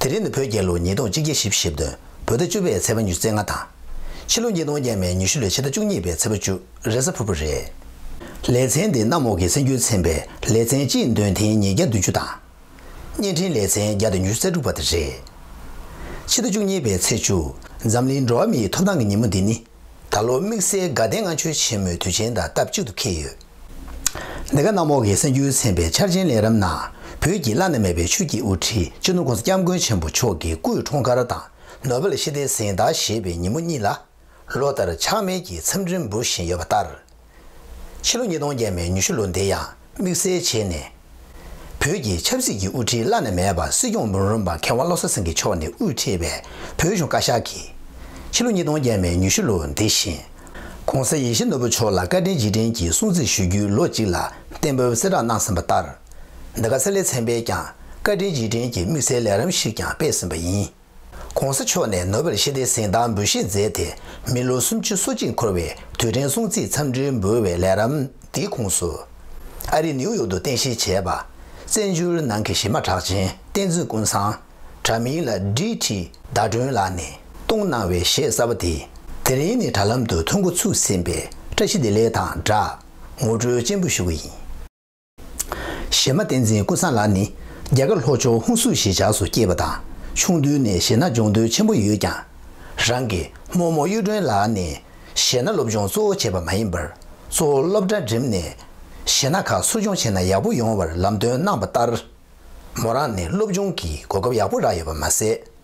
དེ་རིང་ནི་བོད་རྒྱལ་ལོ་ཉིས་སྟོང་གཅིག་བརྒྱད་བཞི་བཞི་བདུན་བོད་ཟླ་བཅུ་པའི་ཚེས་པ་ཉུལ་ཚེས་ལྔ་དང། ཕྱི་ལོ་ཉིས་སྟོང་བརྒྱད་མའི་ཉི་ཤུ་ལོའི་ཕྱི་ཟླ་བཅུ་གཉིས་པའི་ཚེས་པ་བཅུ་རེ་གཟའ་ཕུར་བུ་རེད། ལེ་ཚན་འདི་གནམ་འོག་གི་སེམས་རྒྱུད་ཚན་པའི་ལེ་ཚན་སྤྱིའི་འདོན་ཐེངས་ཉིས་བརྒྱ་བདུན་ཅུ་དང། བརྙན་འཕྲིན་ལེ་ཚན་བརྒྱ་དང་ཉི་ཤུ་རྩ་དྲུག་པ་དེ་རེད། ཕྱི་ཟླ་བཅུ་གཉིས་པའི་ཚེས་བཅུ་འཛམ་གླིང་འགྲོ་བ་མིའི་ཐོབ་ཐང་གི་ཉིན་མོ་འདི་ནི། ད་ལོ་དམིགས་བསལ་དགའ་ལྡན་ལྔ་མཆོད་ཆེན་མོའི་དུས་ཆེན་དང་སྟབས་གཅིག་ཏུ་འཁེལ་ཡོད། འདི་ག་གནམ་འོག་གི་གསར་འགྱུར་ཚན་པའི་འཆར་ཅན་ལས་རབ་ན་བོད་ཀྱི་བླ་ན་མེད་པའི་ཆོས་ཀྱི་དབུ་ཁྲིད་སྤྱི་ནོར ྋགོང་ས ྋསྐྱབས་མགོན་ཆེན་པོ་མཆོག་གི་སྐུའི་འཁྲུངས་སྐར་དང་ནོ་བེལ་ཞི་བདེའི་གཟེངས་རྟགས་བཞེས་པའི་ཉིན་མོ་གཉིས་ལ། ལོ་ལྟར་ཆགས་མེད་ཀྱིས་འཚམས་འདྲི་འབུལ་བཞིན་ཡོད་པ་ལྟར། ཕྱི་ལོ་ཉིས་སྟོང་བརྒྱད་མའི་ཉི་ཤུ་ལོ་འདི་ཡང་དམིགས་བསལ་བྱས་ནས། བོད་ཀྱི་ཆབ་སྲིད་ཀྱི་དབུ་ཁྲིད་བླ་ན་མེད་པ་སྲིད་སྐྱོང་མི་རོན་པ་མཁས་དབང་བློ་བཟང་སེང་གེ་མཆོག་ནས་དབུས་ཁྲིད་པའི་བོད་གཞུང་བཀའ་ཤག་གིས། ཕྱི་ལོ་ཉིས་སྟོང་བརྒྱད་མའི་ཉི་ཤུ་ལོ་འདི་བཞིན། ྋགོང་ས་ཡེ་ཤེས་ནོར་བུ་མཆོག་ལ་བཀའ་དྲིན་རྗེས་དྲན་གྱི་སྲུང་བརྩི་ཞུ་རྒྱུའི་ལོ་གཅིག་ལ་གཏན་འབེབས་གསལ་བསྒྲགས་གནང་ཟིན་པ་ལྟར། འདི་ག་གསེར་ལས་ཚན་པས་ཀྱང་བཀའ་དྲིན་རྗེས་དྲན་གྱི་དམིགས་བསལ་ལས་རིམ་ཞིག་ཀྱང་སྤེལ་ཟིན་པ་ཡིན། ྋགོང་ས་མཆོག་ནས་ནོ་བེལ་ཤེས་ལྡན་གཟེངས་རྟགས་འབུལ་བཞེས་མཛད་དེ་མི་ལོ་སུམ་ཅུ་སོ་གཅིག་འཁོར་བའི་དུས་དྲན་སྲུང་བརྩི་འཚམས་འདྲི་འབུལ་བའི་ལས་རམ་འདིའི་ཁུངས་སུ། ཨ་རི་ནིའུ་ཡོག་ཏུ་རྟེན་གཞི་བྱས་པ། བཙན་བྱོལ་ནང་གི་གཞི་མ་གྲགས་ཅན་བསྟན་འཛིན་ཀུན་བཟང། དྲ་མིང་ལ་ཀྲི་ཀྲི་ཟླ་སྒྲོན་ལགས་ནས་གཏོང་གནང་བའི་གཞས་གསར་པ་དེ། དེ་རིང་ནི་དྲ་ལམ་དུ་ཐོན་འགོ་ཚུགས་ཟིན་པའི་བཀྲ་ཤིས་བདེ་ལེགས་དང་སྦྲགས་ངོ་སྤྲོད་ཅན་པོ་ཞུ་གི་ཡིན། གཞས་མ་བསྟན་འཛིན་ཀུན་བཟང་ལགས་ནི་རྒྱ་གར་ལྷོ་ཕྱོགས་ཧུན་སུར་ཞེས་བྱ་སུ་སྐྱེས་པ་དང་ཆུང་དུས་ནས་གཞས་སྣ་སྦྱོང་འདོད་ཆེན་པོ་ཡོད་ཀྱང། རང་གི་རྨོ་མོ་གཡུ་སྒྲོན་ལགས་ནས་གཞས་སྣ་སློབ་སྦྱོང་གཙོ་བོ་བྱས་པ་མ་ཡིན་པར་གཙོ་བོ་སློབ་གྲྭ་འགྲིམས་ནས་གཞས་སྣ་ཁག་གསོ་སྦྱོང་བྱས་ན་ཡག་པོ་ཡོང་བར་ལམ་སྟོན་གནང་པ་ལྟར། མོ་རང་ནས་སློབ་སྦྱོང་གི་གོ་སྐབས་ཡག་པོ་རག་ཡོད་པ་མ་ཟད།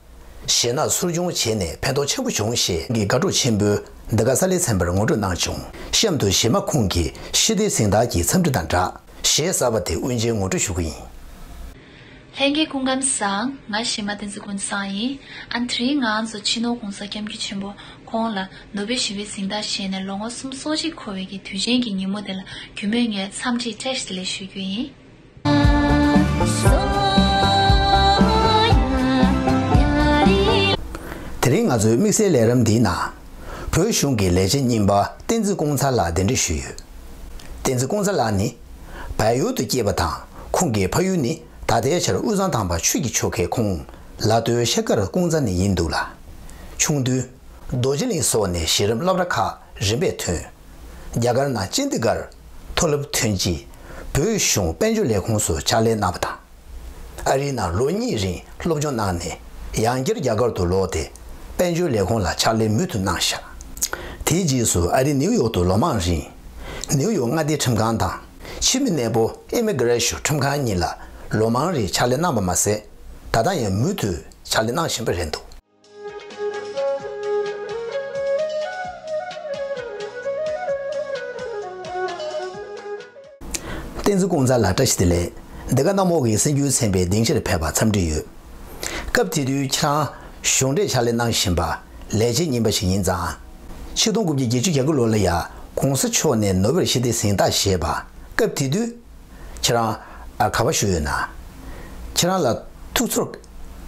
གཞས་སྣ་ཚུར་སྦྱོང་བྱས་ནས་ཕན་ཐོགས་ཆེན་པོ་བྱུང་ཞེས་ཀྱི་དགའ་སྤྲོ་ཆེན་པོས་འདི་ག་ས་ལའི་ཚན་པར་ངོ་སྤྲོད་གནང་བྱུང་གཤམ་དུ་གཞས་མ་ཁོང་གི་ཤེས་བདེའི་གཟེངས་རྟགས་ཀྱི་འཚམས་འདྲི་དང་སྦྲགས་གཞས་གསར་པ་དེ་དབུ་འབྱེད་ངོ་སྤྲོད་ཞུ་གི་ཡིན། ལྷན་རྒྱས་སྐུ་ཁམས་བཟང། ང་གཞས་མ་བསྟན་འཛིན་ཀུན་བཟང་ཡིན། ཨ་མཐིལ་ང་ཚོ་ཕྱི་ནང་གོང་ས་སྐྱབས་མགྱོད་ཆེན་པོ་ཁོང་ལ་ནོ་བེལ་ཞི་བའི་གཟེངས་རྟགས་བཞེས་ནས་ལོ་ངོ་གསུམ་སོ་གཅིག་འཁོར་བའི་གི་དུས་ཆེན་གྱི་ཉིན་མོ་དེ་ལ་གུས་མོས་ངས་འཚམས་འདྲི་བཀྲ་ཤིས་ལེ་ཞུ་རྒྱུ་ཡིན། དེ་རིང་ང་ཚོའི་དམིགས་བསལ་ལས་རིམ་འདིའི་ནང། བོད་གཞུང་གི་ལས་བྱེད་རྙིང་པ་བསྟན་འཛིན་ཀོང་ཚ་ལགས་གདན་འདྲེན་ཞུས་ཡོད། བསྟན་འཛིན་ཀོང་ཚ་ལགས་ནི། བལ་ཡུལ་དུ་སྐྱེས་པ་དང་ཁོང་གི་ཕ་ཡུལ་ནི་ད་ལྟའི་ཆར་དབུས་གཙང་ཐང་པ་ཆུས་ཀྱི་ཆོལ་ཁའི་ཁུངས། ལ་སྟོད་ཤེལ་དཀར་ཀོང་ཚ་ནས་ཡིན་འདུག་ལ། ཆུང་དུས། རྡོ་རྗེ་གླིང་སོགས་ནས་གཞི་རིམ་སློབ་ར་ཁག་རིམ་པས་ཐོན། རྒྱ་གར་ནང་ཅན་དི་གྷར་མཐོ་སློབ་ཐོན་རྗེས་བོད་གཞུང་དཔལ་འབྱོར་ལས་ཁུངས་སུ་ཕྱག་ལས་གནང་བ་དང། ཨ་རིའི་ནང་ལོ་གཉིས་རིང་སློབ་སྦྱོང་གནང་ནས་ཡང་བསྐྱར་རྒྱ་གར་དུ་ལོག་སྟེ་དཔལ་འབྱོར་ལས་ཁུངས་ལ་ཕྱག་ལས་མུ་མཐུད་གནང་ཞག་དེའི་རྗེས་སུ་ཨ་རི་ནིའུ་ཡོག་ཏུ་ལོ་མང་རིང་ནིའུ་ཡོག་མངའ་སྡེའི་ཁྲིམས་ཁང་དང་ཕྱི་མི་གནས་པོ Immigration ཁྲིམས་ཁང་གཉིས་ལ་ལོ་མང་རིང་ཕྱག་ལས་གནང་བ་མ་ཟད་ད་ལྟ་ཡང་མུ་མཐུད་ཕྱག་ལས་གནང་བཞིན་པ་རེད་འདུག། བསྟན་འཛིན་ཀུན་བཟང་ལགས་བཀྲ་ཤིས་བདེ་ལེགས། འདི་ག་གནམ་འོག་གི་སེམས་རྒྱུད་ཚན་པའི་སྡིངས་ཆར་ཕེབས་པ་འཚམས་འདྲི་ཡོད། སྐབས་དེ་དུས་ཁྱེད་རང་གཞུང་འབྲེལ་ཕྱག་ལས་གནང་བཞིན་པ་ལས་བྱེད་རྙིང་པ་ཞིག་ཡིན་ཙང། ཆིག་སྟོང་དགུ་བརྒྱ་བརྒྱད་ཅུ་གྱ་དགུ་ལོ་ལ་ཡང་གོང་ས་མཆོག་ནས་ནོ་བེལ་ཞི་བདེ་གཟེངས་རྟགས་བཞེས་པ་སྐབས་དེ་དུས། ཁྱེད་རང་ག་པ་བཞུགས་ཡོད་ན། ཁྱེད་རང་ལ་ཐུགས་ཚོར་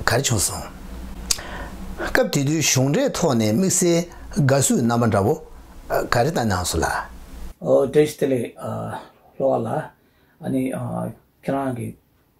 ག་རེ་བྱུང་སོང། སྐབས་དེ་དུས་གཞུང་འབྲེལ་ཐོག་ནས་དམིགས་བསལ་དགའ་བསུའི་རྣམ་པ་འདྲ་བོ་ག་རེ་བཏང་མྱངས་སོང་ལ། ཨོ་རྒྱལ་སྟེ་ལེགས། ལྷོ་བ་ལགས། ཨ་ནི། ཁྱེད་རང་གི།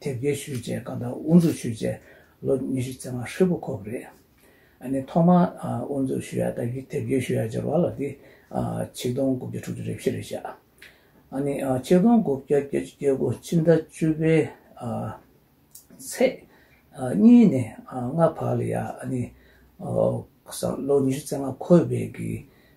དེབ་སྐྱེལ་ཞུས་རྗེས་བཀའ་བསྡམས་དབུ་འཛུགས་ཞུས་རྗེས་ལོ་ཉི་ཤུ་རྩ་ལྔ་ཧྲིལ་པོ་འཁོར་བ་རེད། ནས་ཐོག་མ་དབུ་འཛུགས་ཞུས་ཡ་དང་དེབ་སྐྱེལ་ཞུས་ཡ་སྦྱོར་བ་ལ་དེ་ཆིག་སྟོང་དགུ་བརྒྱ་དྲུག་ཅུ་རེ་བཞི་རེད་བཞག། ནས་ཆིག་སྟོང་དགུ་བརྒྱ་བརྒྱད་ཅུ་བརྒྱད་དགུ་ཕྱི་ཟླ་བཅུ་པའི་ཚེས་གཉིས་ནས་ལྔ་བར་ལ་ཡ། ནས་ལོ་ཉི་ཤུ་རྩ་ལྔ་འཁོར་བའི་གི་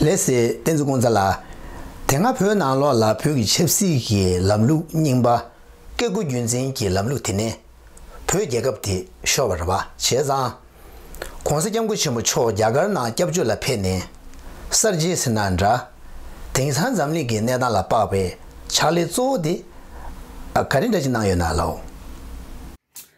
ལེ་སི་ཏན་ཙུ་ཀུང་ཙཱ་ལགས། དེ་སྔ་བོད་ནང་ལོགས་ལ་བོད་ཀྱི་ཆབ་སྲིད་ཀྱི་ལམ་ལུགས་རྙིང་པ། བཀས་བཀོད་རྒྱུད་འཛིན་གྱི་ལམ་ལུགས་དེ་ནི། བོད་རྒྱལ་ཁབ་དེ་ཤོར་བར་བ་བྱས་ཙང། ྋགོང་ས ྋསྐྱབས་མགོན་ཆེན་པོ་མཆོག་རྒྱ་གར་ནང་སྐྱབས་བཅོལ་ལ་ཕེབས་ནས། གསར་བརྗེའི་སེར་སྣ་འདྲ། དེང་སང་འཛམ་གླིང་གི་གནས་སྟངས་ལ་དཔག་པའི་ཕྱག་ལས་གཙོ་བོ་དེ། ག་རེ་འདྲ་ཅིག་གནང་ཡོད་ན་ལའོ།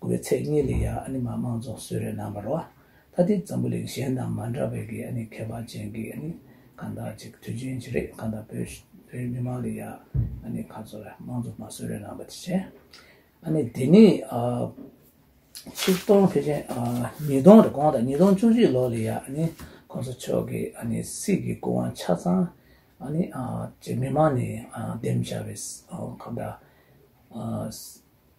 དགུ་བའི་ཚེས་གཉིས་ལས་ཡང་ཨ་ནི་མ་དམངས་ཚོགས་གསོལ་རའི་ནང་པར་བ་ད་ལྟའི་འཛམ་བུ་གླིང་གཞན་དང་མ་འདྲ་བའི་གི་ཨ་ནི་ཁྱད་པར་ཅན་གི་ཨ་ནི་གང་དག་ཅིག་དུས་རྒྱུན་གྱི་རེད་གང་དག་བོད་བོད་མི་དམངས་ལས་ཡང་ཨ་ནི་ཁ་ཚོ་ར་དམངས་ཚོགས་མ་གསོལ་རའི་ནང་པ་དེ་བྱས་ཨ་ནི་དེ་ནི་ཆིག་སྟོང་ཕེ་ཆེན་ཉིས་སྟོང་རེ་གོང་དང་ཉིས་སྟོང་བཅུ་བཞི་ལོ་ལས་ཡང་ཨ་ནི་ཁོང་ཚོ་ཕྱོགས་གི་ཨ་ནི་སྲིད་གི་སྐུ་དབང་ཆ་ཚང་ཨ་ནི་ཅིག་མི་དམངས་ནས་འདེམས་བྱ་བའི་གང་དག་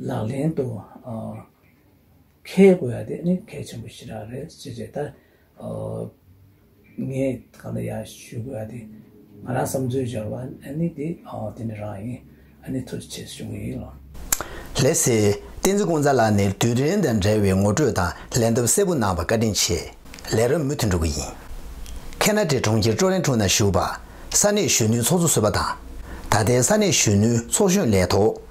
ལག་ལེན་དུ་འཁེལ་དགོས་ཡ་དེ་ནི་གལ་ཆེན་པོ་ཞིག་རག་རེད་ཅེས་རེད་ད། ངས་གང་འདྲ་ཡ་ཞུས་དགོས་ཡ་དེ། ང་རང་བསམ་ཚུལ་འབྱོར་བ་ནི་དེ་དེ་ནི་རང་ཡིན་ཨ་ནི་ཐུགས་རྗེ་ཆེ་ཞུ་ངེས་ཡིན་ལགས། ལེགས་སེ། བསྟན་འཛིན་ཀུན་བཟང་ལགས་ནས་དུས་དྲན་དང་འབྲེལ་བའི་ངོ་སྤྲོད་དང་ལན་འདེབས་གསལ་པོ་གནང་བར་བཀའ་དྲིན་ཆེ། ལས་རབས་མུ་མཐུད་འགྲོ་གི་ཡིན། ཁེ་ན་ཏྲེ་གྲོང་ཁྱེར་ཀྲོ་རན་ཁྲུང་ནང་བཞུགས་པ། ས་གནས་གཞོན་ནུའི་ཚོགས་གཙོ་གསོལ་པ་དང། ད་ལྟའི་ས་གནས་གཞོན་ནུའི་ཚོགས་གཞོན་ལས་ཐོག།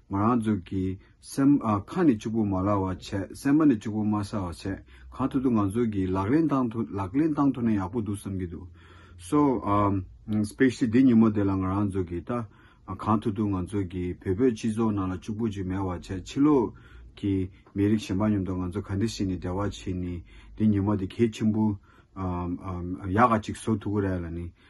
ང་རང་ཚོ་གི་སེམས་ཁ་ནི་ཕྱུག་པོ་མ་ལགས་བ་བྱས་སེམས་པ་ནི་ཕྱུག་པོ་མ་ས་བ་བྱས་གང་ཐུབ་ཐུབ་ང་ཚོ་གི་ལག་ལེན་བཏང་ཐུབ་ལག་ལེན་བཏང་ཐུབ་ན་ཡག་པོ་འདུག་བསམ་གྱི་འདུག་སོ Especially འདི་ཉིན་མོ་དེ་ལ་ང་རང་ཚོ་གི་ད་གང་ཐུབ་ཐུབ་ང་ཚོ་གི་བོད་པོའི་སྤྱི་ཚོགས་ནང་ལ་ཕྱུག་པོ་ཅིག་མེད་བ་བྱས་ཕྱི་ལོག་གི་མི་རིགས་གཞན་པ་མཉམ་དུ་ང་ཚོ་ག་འདི་ཞིག་ནི་འབྲེལ་བ་བྱས་ནི་འདི་ཉིན་མོ་དེ་གལ་ཆེན་པོ་ཡག་ག་ཅིག་བཟོ་ཐུབ་ཀི་རེད་ལ་ནི་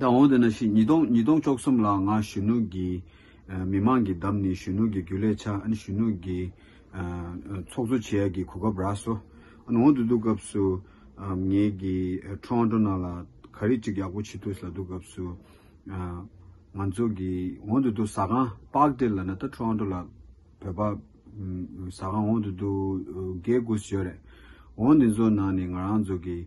ད་འོང་དུ་ན་ཞིག་ཉིས་སྟོང་ཉིས་སྟོང་བཅོ་གསུམ་ལའང་གཞོན་ནུ་གྱི་མི་དམངས་ཀྱི་འདམ་ནི་གཞོན་ནུ་གྱི་རྒྱུ་ལས་ཆ་ཨ་ནི་གཞོན་ནུ་གྱི་ཚོགས་གཙོ་བྱེད་ཡ་གྱི་གོ་སྐབས་རགས་སོ་ཨ་ནི་འོང་དུ་འདུག་སྐབས་སུ་ངེད་ཀྱི་ཁྲོ་ཨ་ཁྲོ་ན་ལ་ག་རི་གཅིག་ཡག་པོ་ཆི་ཐུགས་ལ་འདུག་སྐབས་སུ་ང་ཚོ་གི་འོང་དུ་འདུག་ཟ་ཁང་པགས་དེ་ལ་ན་ད་ཁྲོ་ཨ་ཁྲོ་ལ་བོད་པ་ཟ་ཁང་འོང་དུ་འདུག་རྒས་དགུ་ཞོས་རེད་འོང་དེ་ཚོ་ནང་ནས་ང་རང་ཚོ་གི་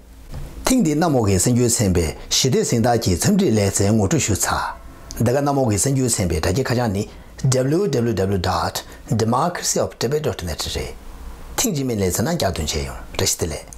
ཐེངས་འདིའི་གནམ་འོག་གི་སེམས་རྒྱུད་ཚན་པའི་ཞི་བདེ་གཟེངས་རྟགས་ཀྱི་འཚམས་འདྲིའི་ལེ་ཚན་ངོ་སྤྲོད་ཞུ་ཚགས། འདི་ག་གནམ་འོག་གི་སེམས་རྒྱུད་ཚན་པའི་དྲ་རྒྱའི་ཁ་བྱང་ནི www dot democracy of tibet dot net རེད། ཐེངས་རྗེས་མའི་ལེ་ཚན་ནང་བསྐྱར་འདོན་བྱས་ཡོང། བཀྲ་ཤིས་བདེ་ལེགས།